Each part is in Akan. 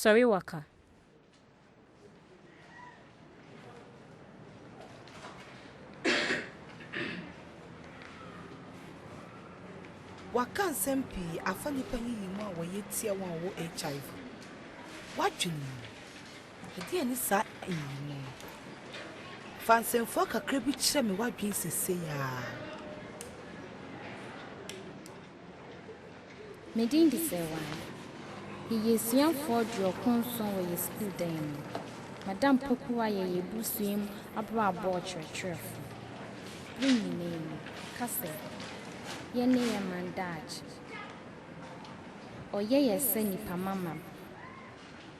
Sɔre waka. Waka nsɛm pii afa nnipa yiyi mu a wɔyɛ tia wɔn a wɔwɔ HIV. Wadwene mu. Ɛdeɛn ne saa nyiyimu no? Fa nsɛmfua kakra bi kyerɛ me w'adwene seesei ara. Me din de Serwaan. Yɛyɛ asuafoɔ aduɔkron nson wɔ yɛn sukuu dan mu. Madam Pokuwa yɛ yɛn abusua mu abrabɔ ɔkyerɛkyerɛfoɔ. Yɛn nyinaa mu, ɔka sɛ yɛn ne yɛn man daakye. Ɔyɛ yɛn sɛ nnipa mamam.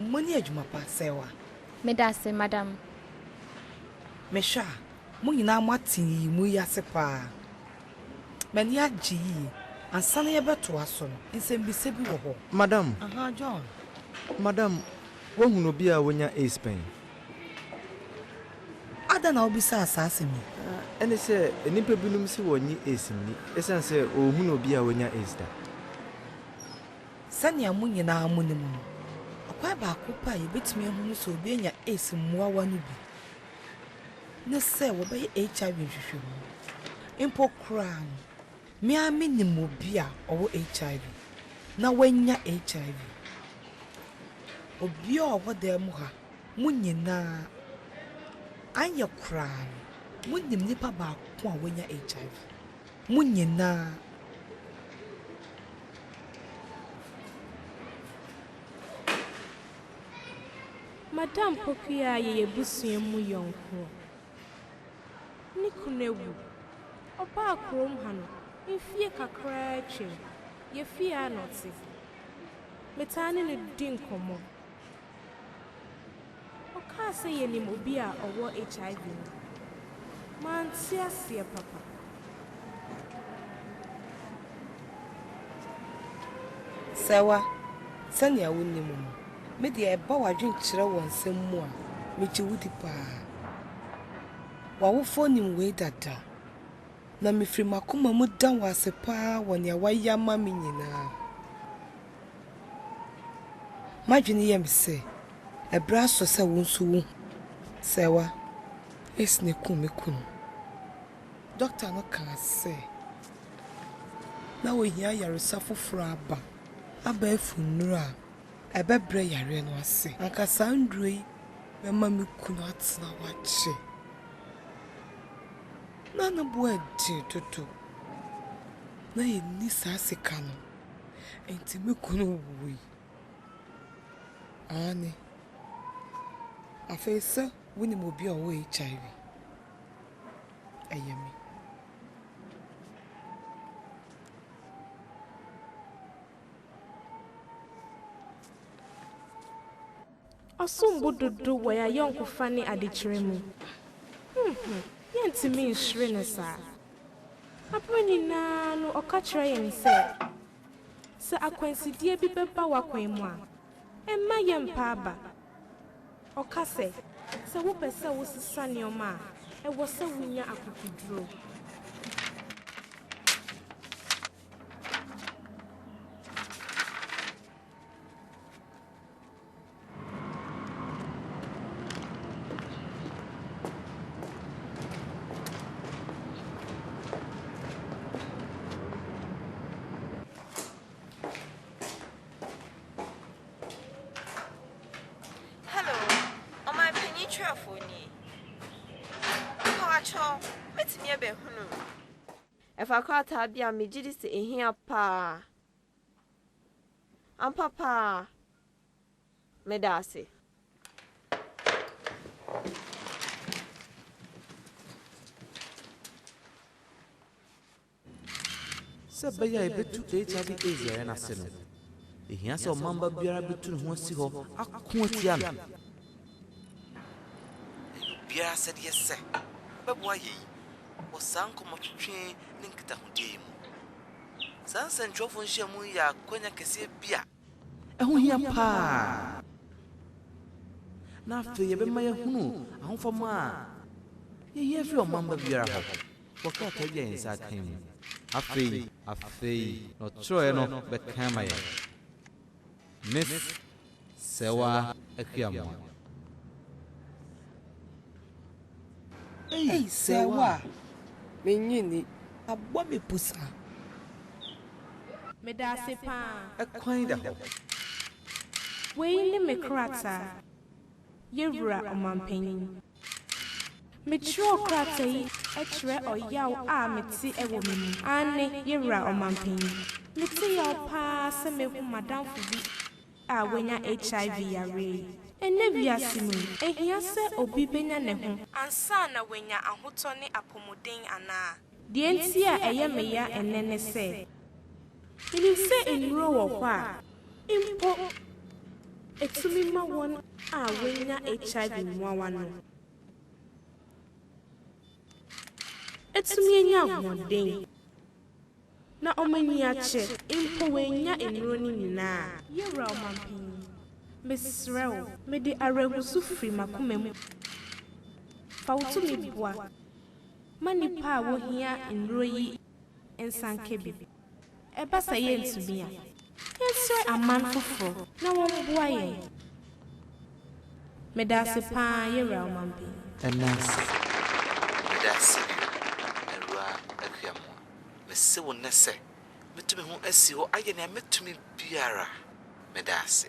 Mo ani adwuma pa sɛɛ wa. Medase madam. Me hwɛ a, mo nyinaa mo ate nyiyimu yi ase paa. M'ani agye yie. Ansa na yɛbɛtoa so no, nsɛmmisa bi wɔ hɔ. Madam. Ahaa, John. Madam, woahunu obi a wanya AIDS pɛn? Adɛn na wobisaa saa asɛm yi? Ɛne sɛ, nnipa binom se wɔnnye AIDS nni esiane sɛ wɔnhunuu obi a wanya AIDS da. Sɛnea mo nyinaa munim no, ɔkwan baako pɛ a yebetumi ahunu sɛ obi anya AIDS mmoawa no bi ne sɛ wɔbɛyɛ HIV nhwehwɛmu. Mpo koraa no, Me ara minim obi a ɔwɔ HIV, na wanya HIV. Obiara a ɔwɔ dan mu ha, mo nyinaa, anyɛ koraa no, munim nipa baako a wanya HIV. Mo nyinaa. Madam Pokuyaa yɛ yɛn abusua mu yɔnko. Ne kunu awu. Ɔbaa kurom ha no, mfie kakraa atwam. Yɛfii ha na ɔte. Metaa ne no di nkɔmmɔ. Ɔkaa sɛ yɛnim obi a ɔwɔ HIV no. Mante aseɛ papa. Sɛwa, sɛnea wunim no, me deɛ ɛba w'adwene kyerɛ wɔ nsɛm mu a, migye wo di paa. W'awofoɔ nim wei dada, na mifiri m'akoma mu da wo ase paa wɔ nea woayɛ ama me nyinaa. M'adwene yɛ me sɛ, ɛberɛ aso sɛ wo nso wuhu. Sɛwa, Esne kum me kunu. Dɔkta no kaa sɛ, na ohia ayaresa foforo aba, abɛɛfo nnuru a ɛbɛbrɛ yareɛ no ase. Anka saa nnuro yi bɛma me kunu atena hɔ akyɛ. Ná ne bo aden dodo. Ná yenni saa sika no, enti me kunu wui. Aane. Afei sɛ wunim obi a ɔwɔ HIV? ɛyɛ me. Ɔsom bo dodo wɔ y'ayɔnkofa ne adekyerɛ mu. Huhum, yɛntumi nhyere no saa. Aberɛ nyinaa no ɔka kyerɛ yɛn sɛ, sɛ akwansideɛ bi bɛba w'akwan mu a, mma yɛmpa aba. Ɔka sɛ, Sɛ wopɛ sɛ wosesa nneɛma a, ɛwɔ sɛ wunya akokoduru. Hello, Ɔmanpanyin Twerɛfoɔ nie. Mpawokyɛw, mɛtumi abɛhunu wo? Ɛfa krataa bi a megye di sɛ ɛhia paa. Ampa paa. Meda ase. Sɛ ɛbɛyɛ a yebetu HIV/AIDS yare no ase no, ehia sɛ ɔmamma biara betu ne ho asi hɔ ako atia no. Ɛyɛ obiara asɛdeɛ sɛ ɔbɛboa yɛn wɔ saa nkɔmmɔtwetwe ne nkitahodie yi mu. Saa nsɛntwerɛfoɔ nhyiamu yi yɛ akwanya kɛseɛ bi a Ɛho hia paa, na afei ɛbɛma yɛahunu ahofama a yɛhia firi ɔmamma biara hɔ wɔ krataa bi a yɛn nsa akan mu. Afei. Afei, na ɔtwerɛeɛ no bɛka ama yɛn, Miss Serwaa Aquiamoah. Ei sɛ wo a, mennye nni. Abɔ me pusa. Meda ase paa. Ɛkwan da hɔ. Wei ne me krataa. Yɛ Wura Ɔmanpanyin. Mekyerɛw krataa yi kyerɛ ɔyaw a mete wɔ me mu. Aane, Yɛ Wura Ɔmanpanyin. Mete yaw paa sɛ mehu m'adamfo bi a wanya HIV yareɛ yi. Ɛnnɛ wiase mu yi, ɛhia sɛ obi bɛnya ne ho. Ansa na wanya ahotɔ ne apɔmuden anaa? Deɛ nti a ɛyɛ me ya ɛnnɛ ne sɛ. Menim sɛ nnuro wɔ hɔ a, mpo. Ɛtumi ma wɔn a wanya HIV mmoawa no. Atumi anya ahoɔden. Na wɔn ani akye, mpo wɔannya nnuro no nyina a. Yɛwura Ɔmanpanyin, mesrɛ wo. Mede awerɛhosu firi m'akoma mu fa wo tumi boa ma nnipa a wɔhia nnuro yi nsanka bi. Ɛba sɛ yɛntumi a. Yɛnsrɛ aman foforɔ na wɔmmoa yɛn. Medaase paa Yɛwura Ɔmanpanyin. Ɛnansa. Medaase bio, Awuraa Akua Moah. Mese wo nnɛ sɛ, mɛtu me ho asi hɔ ayɛ nea mɛtumi biara. Meda ase.